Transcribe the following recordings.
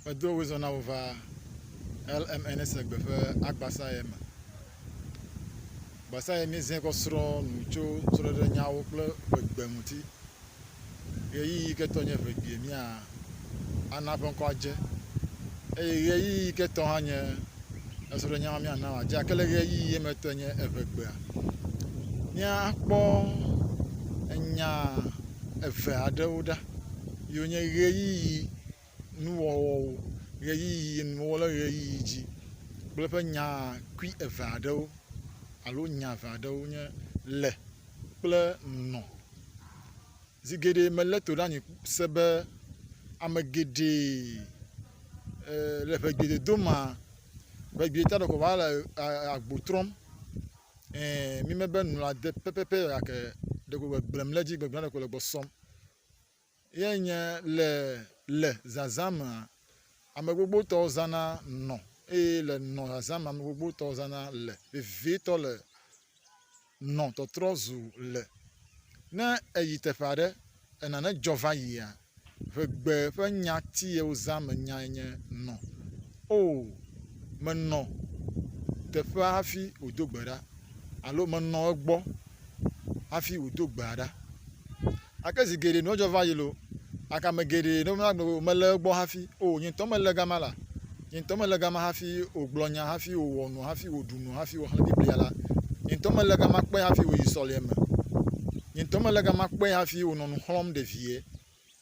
Medo wo zɔ na wo va LMNSegbe ƒe agbasaɛ me. Gbasaɛ míezẽ kɔ srɔ̃ nu tso srɔ̃ɖeɖenyawo kple ʋegbe ŋuti. Ɣeyiɣi yi ke tɔ nye ʋegbie mía ana ƒe ŋkɔ adze eye ɣeyiɣi yi ke tɔ hã nye esrɔ̃ɖenya ma mía na wòadze gake le ɣeyiɣi ye me tɔe nye eʋegbea. Mía kpɔ enya eve aɖewo ɖa. yi wonye ʋeyiʋi nuwɔwɔwo, ʋeyiʋi nuwo le ʋeyiʋi dzi kple eƒe nya kpui eve aɖewo alo nya eve aɖewo nye le kple nɔ. Zi geɖe melé to ɖe anyi se be ame geɖe e le ŋegbedodome ŋegbeta ɖeko woava le agbo trɔm. Ɛ̃, mime be nu la de pɛpɛpɛ o gake ɖeko le gblem ɖe edzi gbegblẽ ɖeko le gbɔ sɔm. Ye nye le le zazã mea, ame gbogbotɔwo zãna nɔ eye le nɔ zazã mea, ame gbogbotɔwo zãna le. Vevietɔ le nɔ tɔtrɔ zu le. Ne èyi teƒe aɖe E nane dzɔ va yia? Ʋe gbe ƒe nya ti ye wozã me nyae nye nɔ. Oo, menɔ teƒea hafi wòdo gbe ɖa, alo menɔ egbɔ hafi wòdo gbea ɖa. Gake zi geɖe nua dzɔ va yi loo, gake ame geɖe nɔna gbe be womele egbɔ hafi. Oo, nye ŋutɔ mele gama la. Nye ŋutɔ mele gama hafi wògblɔ nya, hafi wòwɔ nu, hafi wòɖu nu, hafi wòxlẽ Biblia la. Nye ŋutɔ mele gama kpɔe hafi wòyi sɔleme. Nye ŋutɔ mele gama kpɔe hafi wònɔ nu xlɔ̃m ɖe vie.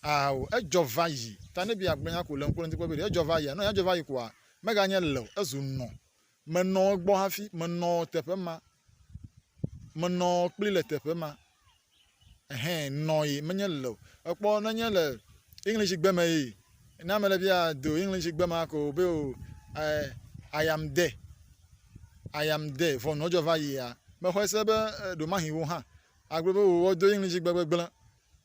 Ao, edzɔ va yi. Ta ne be yeagblɔ nya ko le ŋkuɖoŋti kpɔkpɔ be ɖe edzɔ va yia, ne wònya dzɔ va yi koa, meganye le o, ezu nɔ. Menɔ egbɔ hafi, menɔ teƒe ma, menɔ kpli le teƒe ma. Ehɛ nɔ ye menye le o. Ekpɔ nenye le English gbe me ye. Ne ame ɖe bia do English gbe ma ko be o eh, I am there. I am there. Vɔ nɔ dzɔ va yia, me xɔe se be ɖomahi wo hã agblɔ be o wodo English gbe gbegble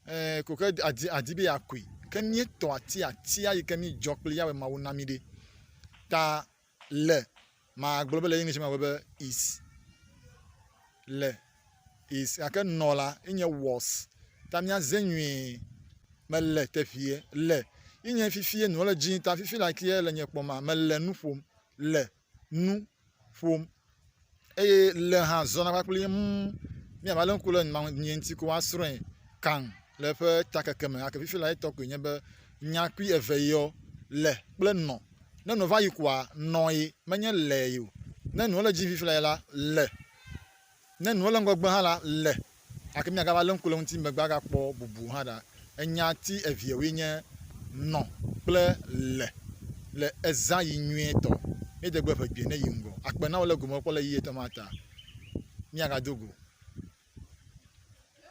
eh, ko ke adi adi be yeakui. Ke mía tɔ atia atia yi ke mí dzɔ kpli ya wema wo na mí ɖe. Ta Le, magblɔ be le English me be is, le, is gake nɔ la enye was. Ta míaze nyuie, mele teƒeɛ, le, ye nye fifie nɔ le dzi ta fifi le akeɛ le nye kpɔ mea, mele nu ƒom, le, nu, ƒom, eye le hã zɔna kpakple ye ŋu ne ava le ŋku le nya ŋu ŋuti ko asrɔ̃e kaŋ le eƒe takeke me gake fifi la etɔ koe nye be nya kpui eve yɔ le kple nɔ ne nɔ va yi koa nɔe menye lee o ne nɔ le edzi fifi la le ne nɔ le ŋgɔgbe hã la le. Gake míagava lé ŋku le eŋuti megbe agakpɔ bubu hã ɖa. Enya ti eveawoe nye nɔ kple le. Le ezã yi nyuietɔ. Míede gbe ʋegbee ne yi ŋgɔ. Akpe na wò le gomekpɔkpɔ le ɣeyiɣi etɔ̃ ma ta. Míagado go.